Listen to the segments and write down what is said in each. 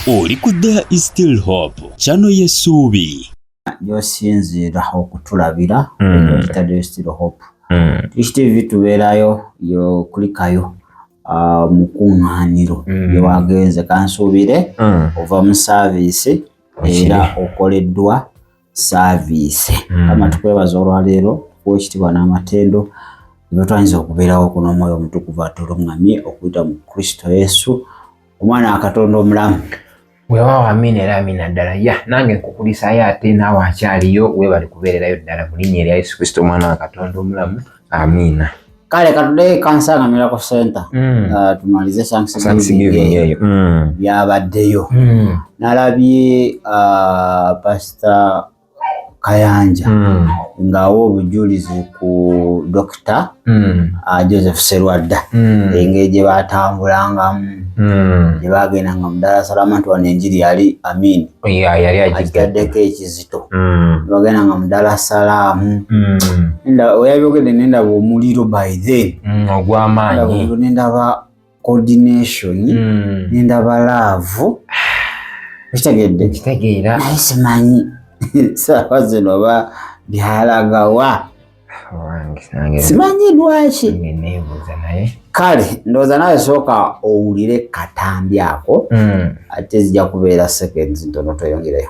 oli ku there is still hope kyano yesuubi gyosinziira okutulabira hmm. there is still hope hmm. Tish TV tubeerayo yokulikayo ah, mu kuŋŋaaniro hmm. lyewagenze kansuubire ova mu saaviisi era okoleddwa saaviisi mm. kama tukwebaza olwaleero okuwa ekitibwa n'amatendo notwayinza okubeerawo kuno omwoyo omutukuvu atulungamye okuyita mu kristo yesu omwana wakatonda omulamu wewawo amina era amina ddala ya nange nkukulisayo ate naawe akyaliyo webali kubeererayo ddala mu linnya erya yesu kristo omwana wa katonda omulamu amina kale katudeyo kansangamira ku center mm. uh, tumalize sanksgiving mm. byabaddeyo mm. nalabye uh, pasita kayanja mm. ngaawa obujulizi ku dokita mm. uh, joseph serwadda mm. engeri gye batambulangamu mm. gye bagendanga mudala salama nti wano enjiri yali amini yeah, yali agitaddeko ekizi kizito mm. bagenda nga mudala salaamu mm. enda oyabyogedde nendaba omuliro by then mm, ogwamaanyi nendaba coordination mm. nendaba laavu ekitegedde kitegeera naye simanyi saawa zino ba byalagawa simanyi lwaki kale ndowooza nawe sooka owulire katambi ako hmm. ate zija kubeera seconds ntono tweyongereyo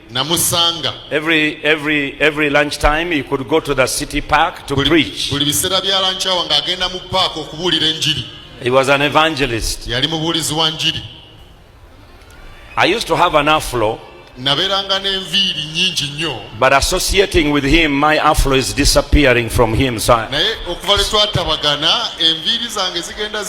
namusanga every every every lunch time you could go to the city park to preach buli bisera bya lunch hour nga agenda mu park okubulira enjiri he was an evangelist yali mubulizi wa njiri i used to have an afro naberanga n'enviiri nyingi nnyo but associating with him my afro is disappearing from him so naye okuva lwe twatabagana enviiri zange zigenda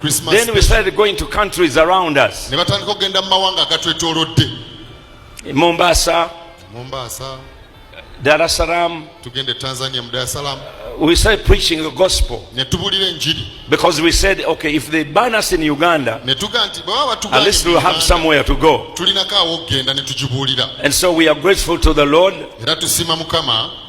Christmas then we started going to countries around us ne batandika okugenda mu mawanga agatwetoolodde e mombasa mombasa dar es salaam tugende tanzania mu dar es salaam uh, we started preaching the gospel ne tubulira enjiri because we said okay if they ban us in uganda ne tuga nti baba batugwa at least we'll have somewhere to go tulinako awokugenda ne tugibuulira and so we are grateful to the lord era tusima mukama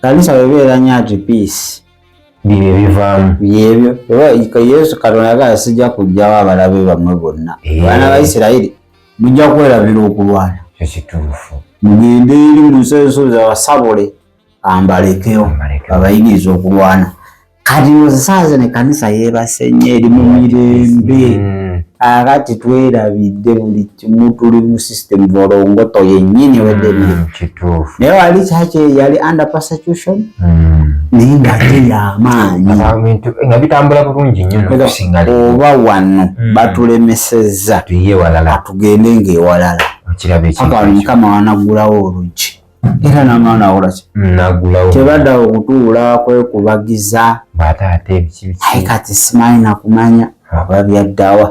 kanisa webeera nyo ati peace bibyo bivaamu byebyo oba yesu katonda agala sijja kujjawo abalabe bamwe bonna eh. abaana ba isirayiri mujja kwerabira okulwana ekituufu mugende eri mu nsi ensozi abasabule ambalekeo abayigiriza okulwana kati nozisanze ne kanisa yebase nnyo eri mu mirembe mm. akati twerabidde buli kimu tuli mu system volongoto yennyini wedebiri mm, naye wali kyaki yali under persecution mm. naye nga te yamaanyi nga bitambula bulungi nnyo nokusinga oba wano batulemesezza atugende ngaewalala mukama wanaggulawo oluggi era n'amaana akolaki nagulawo tebaddawo okutuula kwekubagiza ate ate ebikibiki kati simanyi nakumanya aba byaddawa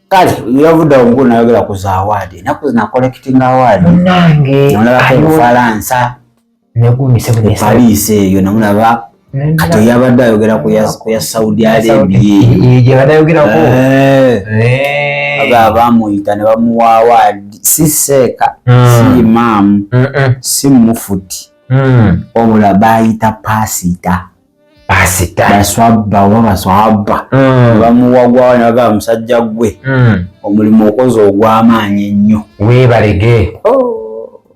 kale yavudde omuku nayogera ku za awaadi enaku zina collecting awaadi nange olabako obufalansa negumisebuepaliisi eyo namulaba kati yabadde ayogera ku ya saudi arabiayeyogerako eh. eh. abamuyita ne bamuwaawa si seeka hmm. si imaamu si mufuti hmm. wabula bayita pasita pasita baswabba oba baswabba hmm. bamuwagwawo nebagaa musajja gwe omulimu okoze ogwamaanyi ennyo webalege oh.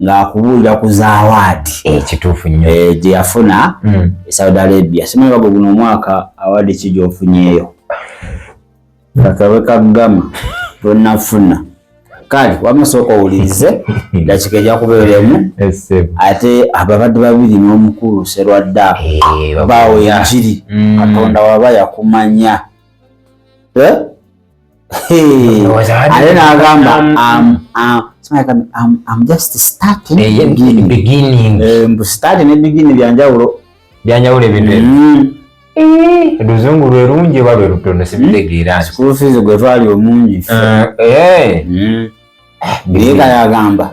ng'akubuulira ku zaawaadi ekituufu nnyo eh, gye yafuna hmm. e saudi arabia simanyibago guno omwaka awaadi ki gy'ofunyeeyo kakabe kaggama tonafuna kale wamasooka owulirize dakika ejja kubeeremu ate ababadde babiri n'omukulu serwadda eh, baawo enjiri hmm. katonda waba yakumanya eh? ate n'agamba mbu start ne bigini byanjawulo byanjawulo ebintu oluzungu mm. lwe lungi oba lwe lutono sibitegeera mm. school fees gwe twali omungi eh, eh. Mm. eh, naye kayagamba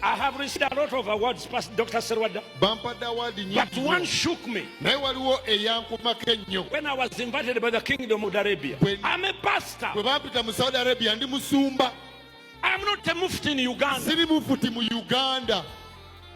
I have received a lot of awards past Dr. Serwada. Bampadde award nyingi. But one shook me. Naye waliwo eyankumako ennyo. When I was invited by the kingdom of Arabia. When, I'm a pastor. Bwe bampita mu Saudi Arabia ndi musumba. I'm not a mufti in Uganda. Siri mufti mu Uganda.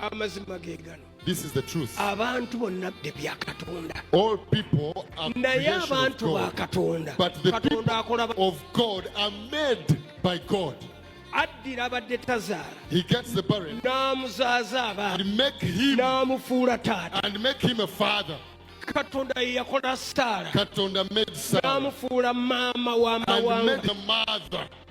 amazima ge gano abantu bonna bde bya katonda naye abantu ba katonda katonda akola addira abadde tazaala n'amuzaaza abaana n'amufuula taata katonda ye yakola saala n'amufuula maama w'amawanga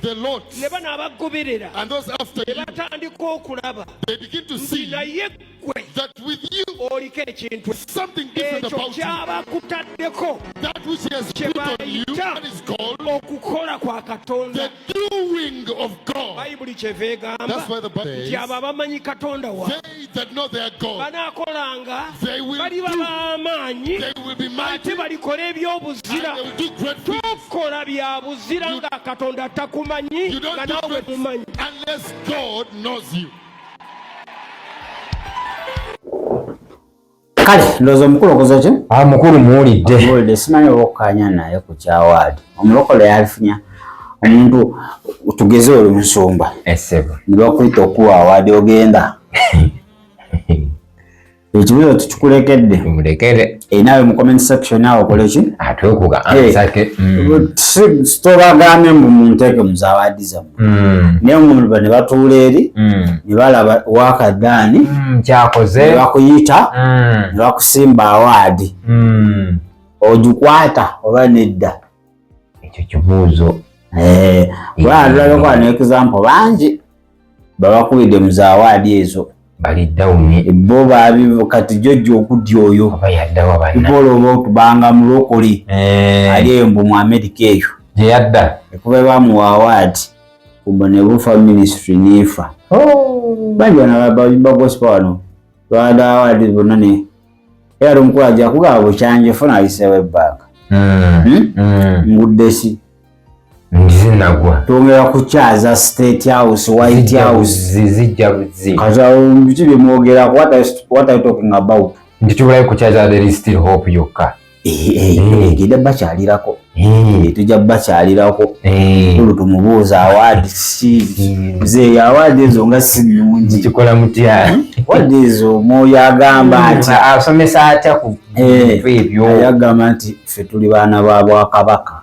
the Lord ne bano abagoberera and those after ne you, batandika okulaba they begin to nti see naye ggwe that with you, oliko ekintu something different ekyo about you. kyabakutaddeko That which He has kye put on you, bayita that is called okukola kwa the katonda doing of God. bayibuli kyeva egamba That's why the Bible nti says, abo abamanyi katonda waabwe banaakolanga baliba b'amaanyi ate balikola eby'obuzira tokola bya buzira nga katonda takumanyi nga naawe mumanyi kale ndowooza omukulu okoze ki ah, mukulu muwulidde muwulidde simanyi oba okukanya naye ku kyawaadi omulokole yalifunya omuntu tugeze oli musumba esebo eh, nibakuyita okuwa awaadi ogenda ekibuzo tukikulekedde mulekere enawe mu comment section awo okole ki atwekuga ah, eh, mm. tobagambye mbu munteeke muzawaadi zamu Mm. naye omuluba ne batuula eri mm. ne balaba wakadaani mm, kyakoze ne bakuyita ne bakusimba awaadi ogikwata oba nedda ekyo kibuuzo eh, kuba atulabeko ano example bangi babakubidde mu zaawaadi ezo bali dawuni bo babivu kati jojo okudya oyo ibola oba otubanga mulokole eh. ali eyo mbu mu amerika eyo gyeyadda ekuba bamuwa awaadi kumba nebufa ministry nefa oh. bangi banabagosipa wano twada awaadi bonna ne era lomukulu aja kugaba bukyanje funa ayisewo ebbanga hmm. hmm? hmm. ngudde si zinagwa tongera kukyaza state house white house zijja buzzi kati biki byemwogera what are you talking about nti tubulayo kukyaza there is still hope yokka eh, eh, eh, genda bakyalirako tujja bakyalirako kulu tumubuuza awaadi mzeeyi awaadi ezo nga si nungi kikola mutya hmm? awaadi ezo omwoyo agamba hmm, nti asomesa atya ku ebyo ayagamba nti ffe tuli baana ba bwakabaka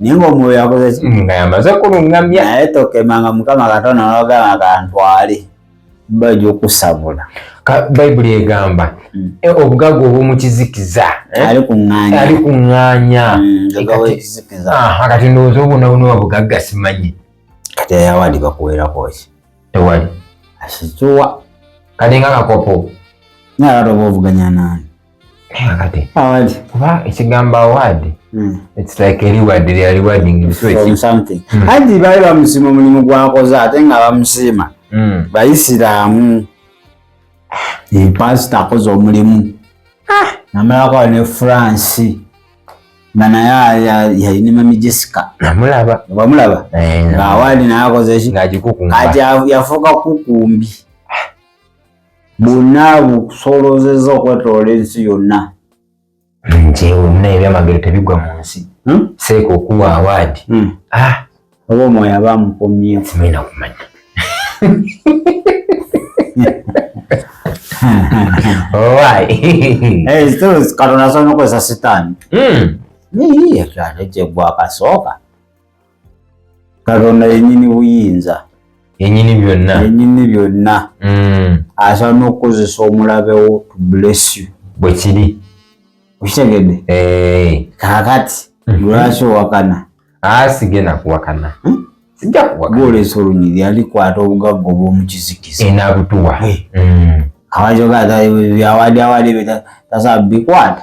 naye ng'omwoyo yakozeki mm, nga yamaze kulungamya naye tokemanga mukama katonda nogamba kantwale bajja okusabula bayibuli egamba mm. e, obugagga obwomukizikiza eh? ali kuŋŋanya kati ndowooza obwonabunoba bugagga simanyi kati ayawadi bakuwerakoki tewali asikiwa kati nga kakopo naye atoba ovuganya nani award kuba ekigambo award hmm. it's like a reward they are rewarding you from something hmm. anti bali bamusima omulimu gwakoze ate nga bamusima hmm. bayisiramu pasita akoze omulimu ah. namalako ne france banaye yalina mami jessica namulaba bamulaba eh, nga award naye akoze ki yafuuka kukumbi bwonna bukusoolozezza okwetoola ensi yonna nti wonna ebyamagero tebigwa mu nsi hmm? seeka okuwa awaadi hmm. ah! oba omwoyo aba amukomyewo simulina kumanya katonda asobola nokozesa sitaani hmm. niyiye kyalo kyegwakasooka katonda yenyini buyinza yenyini byonna yenyini byonna mm. asobola n'okukozesa omulabewo to bless you bwe kiri okitegedde eh. kakati mhm. lwaki owakana asige ah, nakuwakana hmm? sijja kuwakana gwolesa olunyiri alikwata obugagga obwomukizikiza enabutuwa eh, eh. mm. awajoga byawali awali tasabikwata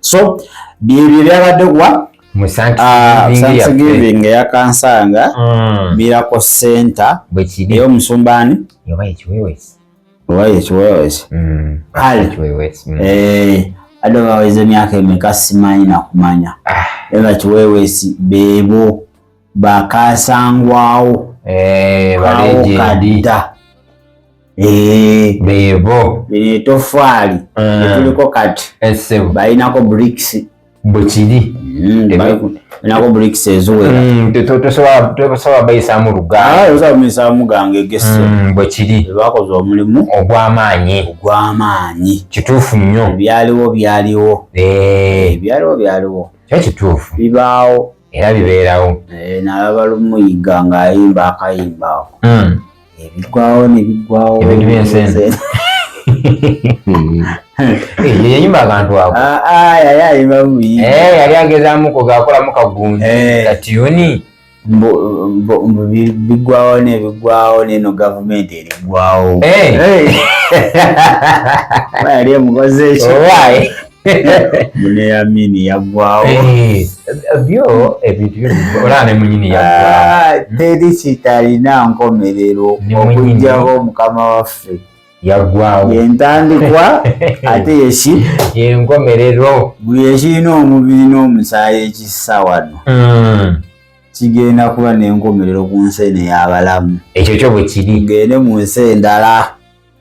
so byebyo byabadde wa musansgiving ah, eyakansanga mm. miracle center eyomusumba ani oba ekiwewesi adde baweza emyaka emeka simanyi nakumanya ah. era kiwewesi bebo bakasangwawo eh, balejendi bebo lino etofaali etuliko kati balinako bricks bwekiri nako bricks eziwera mm, tosobola bayisaamu lugaayisaamu ah, gange egese mm, bwekiri bakoze omulimu ogwamaanyi ogwamaanyi kituufu nnyo byaliwo byaliwo eh. eh, byaliwo byaliwo kyo kituufu bibaawo era bibeerawo eh, nalaba lumuyiga ng'ayimba akayimba ako hmm. ebigwawo eh, nebigwawo ebintu byensenze yeyayimba akantu ako ah, ah, yali ayimba buyi eh, yali agezamu kugakolamu kagundu katiyuni bigwawo nebigwawo neno gavumenti erigwawo yali emukoze ekyo mune ya mini yagwawo eh, byo ebintu eh, byola ne munyini yagwawo ah, teri kitalina nkomerero okujjawo mukama waffe yagwawo yentandikwa ate yeki yenkomerero buli ekirina omubiri n'omusaayi ekissa wano hmm. kigenda kuba n'enkomerero ku nsi eno ey'abalamu ekyo kyo bwe kiri gende mu nsi endala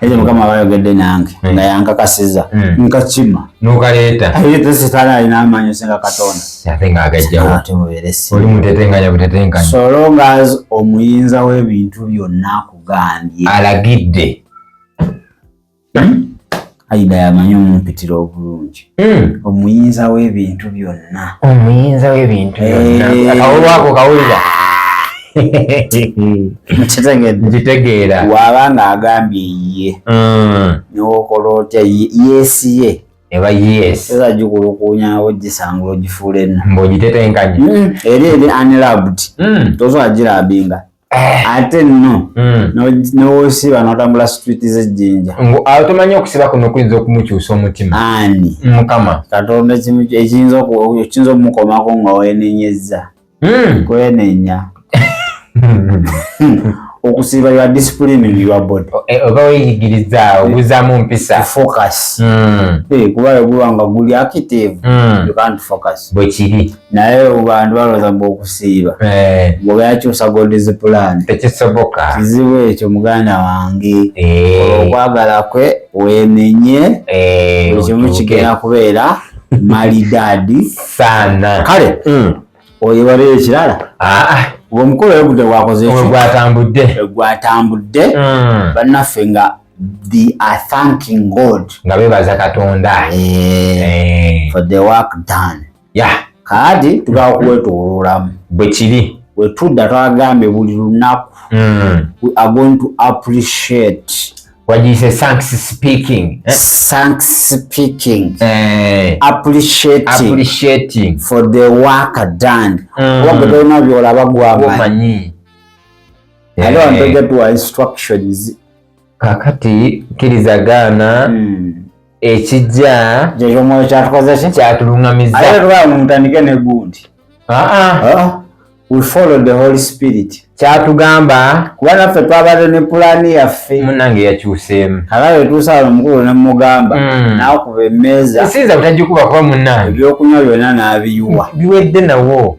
Eyo mukama bayogedde nange hmm. nga yankakasiza hmm. nkakima nokaleeta aye tesitala alina amaanyi singa katonda ate nga agajjawooli mutetenganya butetenganya so long as omuyinza w'ebintu byonna akugambye alagidde hmm? Aida yamanyi omumpitira obulungi hmm. omuyinza w'ebintu byonna omuyinza w'ebintu byonna eh. akawulwako kawulira nkitegeera waaba nga agambye ye hmm. newokola otya yesi ye eba yes eza gikulukunyawo gisangula ogifuula enna mbaogitetenkanye hmm. eri eri unloved tozo agirabinga Eh. ate nno hmm. newosiba notambula street zejjinja tomanyi okusiba kuno kuyinza okumukyusa omutima ani mukama katonda ekiyinza okumukomako nga wenenyezza hmm. kwenenya okusiba ya discipline in your body eh, oba weyigiriza obuzamu mpisa focus hmm. eh, kuba yogulwanga guli active you can't focus bwekiri naye abantu balooza mbu okusiiba eh. bwebayakyusa god's plan tekisoboka kizibu ekyo muganda wange eh. okwagala kwe wemenye eh, buli kimu kigenda kubeera malidadi sana kale mm. oyo waliyo ekirala ah, ah. omukolo oyo gudde gwakoze gwatambudde gwatambudde mm. bannaffe nga they are thanking god nga bebaza katonda for the work done ya kaadi tugala kuwetololamu bwekiri wetudda twagambye buli lunaku mm. we are going to appreciate wagiyise thanks speaking eh? thanks speaking eh. appreciating, appreciating for the work done mm. wabwe tolina byolaba gwamanyi ate wantogetwa instructions kakati kkiriza gaana hmm. ekijja kyekyomoyo kyatukozeki kyatulungamizatandike negundi kyatugamba kuba naffe twabadde ne pulaani yaffe munange yakyuseemu alawetuusa wano omukulu nemugamba hmm. nakuba emeeza isiinza butagikuba kuba munange ebyokunywa byona nabiyuwa biwedde nawo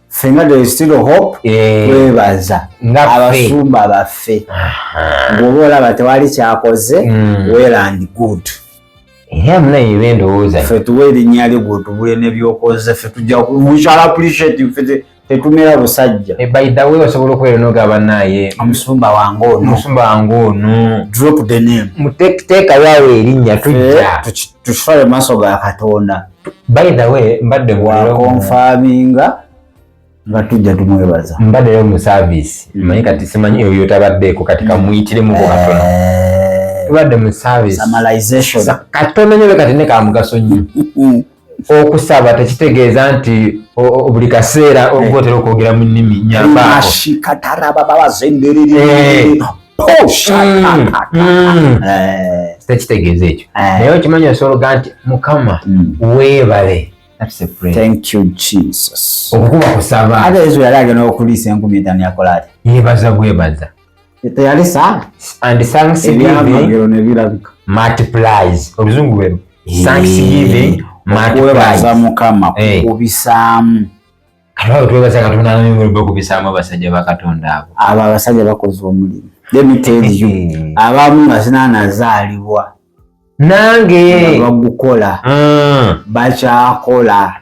fenga there is still hope eh. twebaza abasumba baffe bwoba olaba tewali kyakoze hmm. well and good fe tuwa erinnya lyo gwotubule nebyokoze fe tujja we shall appreciate fe tetumira busajja eh, by the way osobola okubeera noga banaye omusumba wange ono omusumba wange ono drop the name muteekayo awo erinnya tujja eh, tusitwale mu maaso ga katonda by the way mbadde wakonfaminga nga tujja tumwebaza mbaddeyo mu service mm. manyi kati simanyi oyo tabaddeeko kati mm. kamuyitiremukho eh. katono tubadde mu service katono nyobe kati nekamugaso nnyo mm. okusaba tekitegeeza nti buli kaseera eh. oba otera okwogera mu nnimi nyambaako tekitegeeza ekyo naye okimanyi osologa nti mukama weebale okukuba kusaba ate yesu yali agenda okuliisa enkumi etaano yakola ati yebaza bwebaza teyalisa and thanks multiplies oluzungu lwero thanks giving mukama kukubisaamu Kalawo twebaza Katonda naye ngulu bako bisama basajja ba Katonda abo. Aba basajja bakoze omulimu. Let me tell you. Eh. Abamu basina nazalibwa. Nange bagukola. Mm. Bacha kola.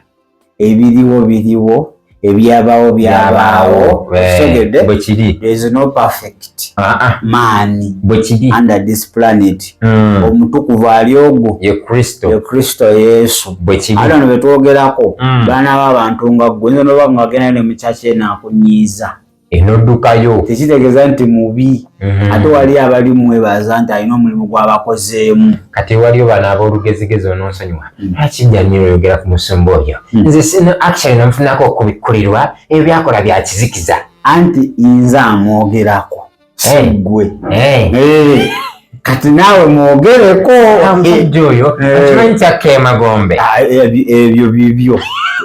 Ebiriwo biriwo ebyabawo byabawo. Sogede. Bwekiri. There is no perfect. gift ah, ah. maani under this planet mm. omutukuvu ali ogwo ye kristo yesu ate ono betwogerako mm. baana b'abantu nga gwe nze noba ngagenda ne mukyaki enakunyiiza enodukayo tekitegeeza nti mubi mm. ate wali abali mwebaza nti alina omulimu gwabakozeemu kati waliyo bana abolugezigezi ononsonyiwa mm. lwaki janiro oyogera ku musumba oyo mm. nze sino action namufunako okubikkulirwa ebyo byakola byakizikiza anti inze amwogerako sigwe eh. eh. kati naawe mwogereko oyo okimanyi kyakka emagombe ah, ebyo bibyo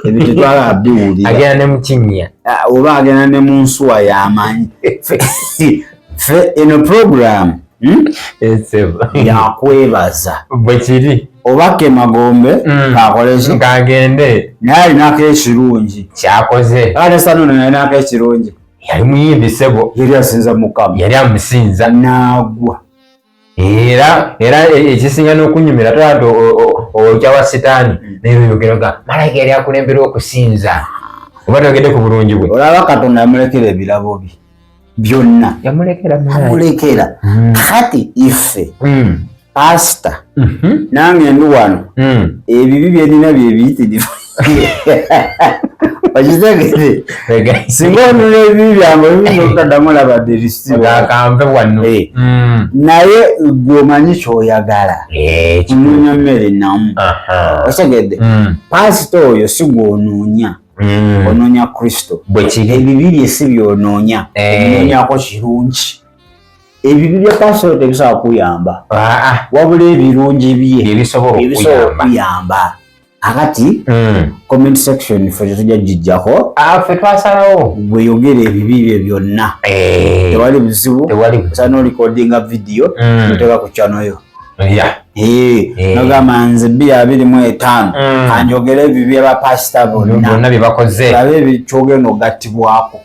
ebyo tetwala biwulira agenda ne mukinnya ah, oba agenda ne mu nsuwa yamanyi fe eno programu Hmm? yakwebaza bwekiri oba kemagombe hmm. kakoleki kagende naye alinako ekirungi kyakoze ate sanona yalinako ekirungi yali muyimbi sebo yali asinza mukama yali amusinza nagwa era era ekisinga n'okunyumira tolati okya wa sitaani hmm. naye oyogeraga malayika yali akulembera okusinza oba togende ku bulungi bwe olaba katonda yamulekera ebirabo bye byonna yamulekera amulekera hmm. kati ife hmm. pasita mhm. nange ndi wano hmm. ebibi byerina byebiyitirivu okitegere singa onula ebibi byange ebiyokadamu labadde ebisiakampe wano eh. naye gwe omanyi kyoyagala eh, ononya mmere namu okitegedde pasita oyo sigwononya mm. ononya kristo ebibi byesi byononya eh. ebinonyako kirungi ebibi bya pasolo tebisobola kuyamba ah, ah. wabula ebirungi bye byebisobola okuyamba akati hmm. comment section fe tetujja gijjako ah, fe twasalawo gweyogera ebibi bye byonna eh. tewali buzibu osana olikodinga vidiyo hmm. noteka ku kyanoyo nogamba eh. nze bbi abiri mu etaano mm. anjogere ebyo byebapasita bonna byebakoze abe ebikyogenda ogattibwako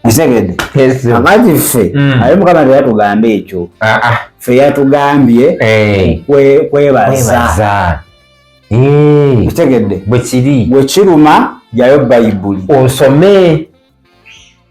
Isegede. Yes. Amati fe. Mm. Ayo mukama ndio yatugambe ekyo. Ah ah. Fe yatugambye eh kwe kwebaza. Kwebaza. Eh. Isegede. Bwekiri. Bwekiruma yayo Bible. Osome.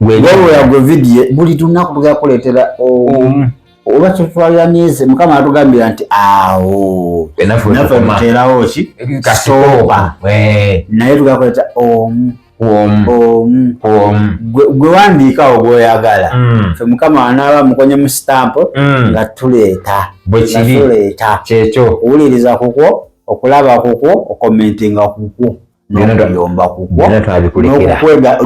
wewera gwe vidiyo buli lunaku tugenda kuleetera omu oba kyetwalira myezi mukama atugambira nti awo naffe tuteerawo ki kasooba naye tugenda kuleeta omu gwe wandiikawo gwoyagala mm. fe mukama anaaba mukonye mu sitampo mm. nga tuleeta tuleeta kyekyo owuliriza kukwo okulaba kukwo okomentinga kukwo nokuyomba kukwo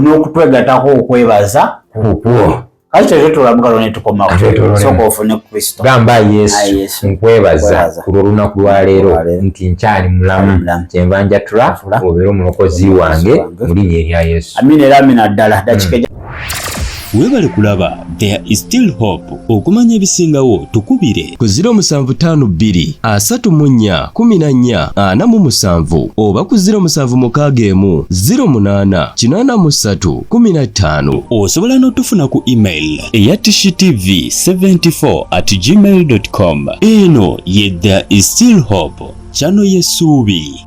n'okutwegatako okwebaza kukwo kati tetwe tulabugalo netukomasoka ofune kristo gamba yesu nkwebaza ku lwolunaku lwaleero nti nkyali mulamu kyenva njatula obeera omulokozi wange mu linya erya yesu amina era amina ddala dakika webale kulaba there is still hope okumanya ebisingawo tukubire ku 0752 asatu mu nnya kumi na nnya ana mu musanvu oba ku 07 mukaaga emu 08 kinaana mu ssatu kumi na ttaano osobola n'otufuna ku email eya tv 74 at gmail com eno ye there is still hope kyano yesuubi